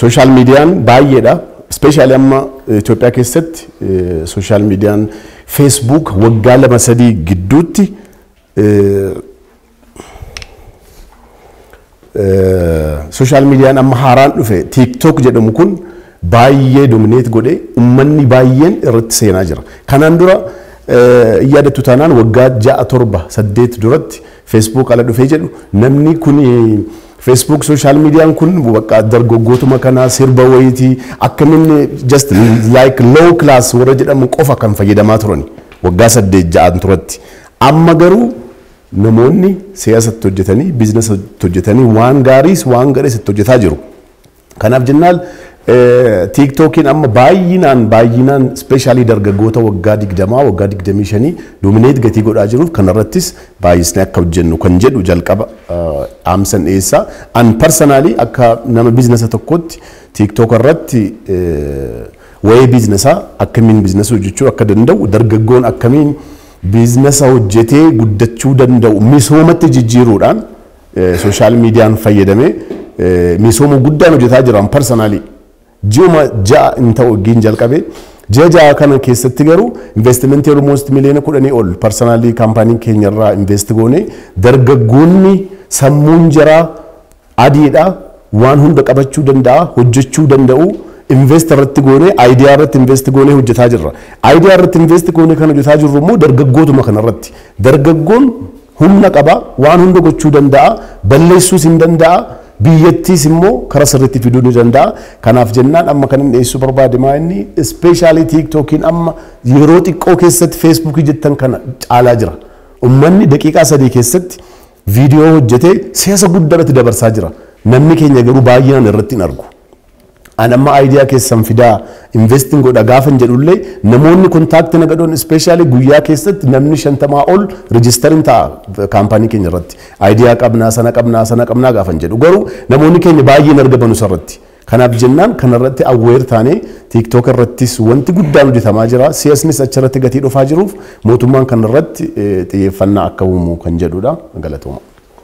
Sooshaal miidiyaan baay'eedha. Ispeeshaalii amma Itoophiyaa keessatti sooshaal miidiyaan feesbuuk waggaa lama sadii gidduutti sooshaal miidiyaan amma haaraan dhufe tiiktook jedhamu kun baay'ee domineet godhe ummanni baay'een irratti seenaa jira. Kanaan dura yaadattu taanaan waggaa ja'a torba saddeet duratti Facebook ala dhufee jedhu namni kun Facebook social median kun bakka dargaggootuma kana sirba wayiiti akkamin just like low class warra jedhamu qofa kan fayyadamaa turani waggaa saddeet ja'an turatti amma garuu namoonni siyaasa itti hojjetanii biizinasa itti hojjetanii waan gaariis waan gadhees itti hojjetaa jiru. Kanaaf jennaan tiiktookiin amma baay'inaan baay'inaan ispeeshaalii dargaggoota waggaa 20 waggaa 25 doomineet gatii godhaa jiruuf kanarrattis baay'isnee akka hojjennu kan jedhu jalqaba dhaamsan dhiyeessaa. An parsanaalii akka nama biiznasa tokkootti tiiktook irratti wa'ee biiznesaa akkamiin biiznasa hojjechuu akka danda'u dargaggoon akkamiin biiznasa hojjetee guddachuu danda'u misoomatti jijjiiruudhaan Sooshaal miidiyaan fayyadamee misooma guddaan hojjetaa jira an parsanaalii. Ji'uma ja'a hin ta'u waggiin jalqabe. Ji'a ja'a kana keessatti garuu investimentii olmoost miliyoona kudhanii ol parsanaalii kaampaanii keenya irraa invest goone dargaggoonni sammuun jaraa adiidha waan hunda qabachuu danda'a hojjechuu danda'u invest irratti goone aayidiyaa irratti invest goone hojjetaa jirra. Aayidiyaa irratti invest goone kan hojjetaa jirru immoo dargaggootuma kana irratti dargaggoon Humna qaba, waan hunda gochuu danda'a, balleessuus hin danda'a, biyyattiis immoo kara sirriitti fiduu ni danda'a. Kanaaf jennaan amma kan inni dhiyeessuu barbaade maa inni ispeeshaalii tiiktookiin amma yeroo xiqqoo keessatti feesbuukii jettan kana caalaa jira. Ummanni daqiiqaa sadii keessatti viidiyoo hojjetee siyaasa guddaa irratti dabarsaa jira. Namni keenya garuu baay'inaan irratti hin argu. An amma idea keessan fidaa investin godha gaafan jedhullee namoonni contact na gadhon especially guyyaa keessatti namni shantamaa ol register hin ta'a kaampaanii keenya irratti idea qabnaa sana qabnaa sana qabnaa gaafan jedhu garuu namoonni keenya baay'ee hin argamanu isarratti kanaaf jennaan kanarratti awweer taanee tiktok irrattis wanti guddaan hojjetamaa jira siyasnis achirratti gatii dhufaa jiruuf mootummaan kanarratti xiyyeeffannaa akka uumu kan jedhudha galatooma.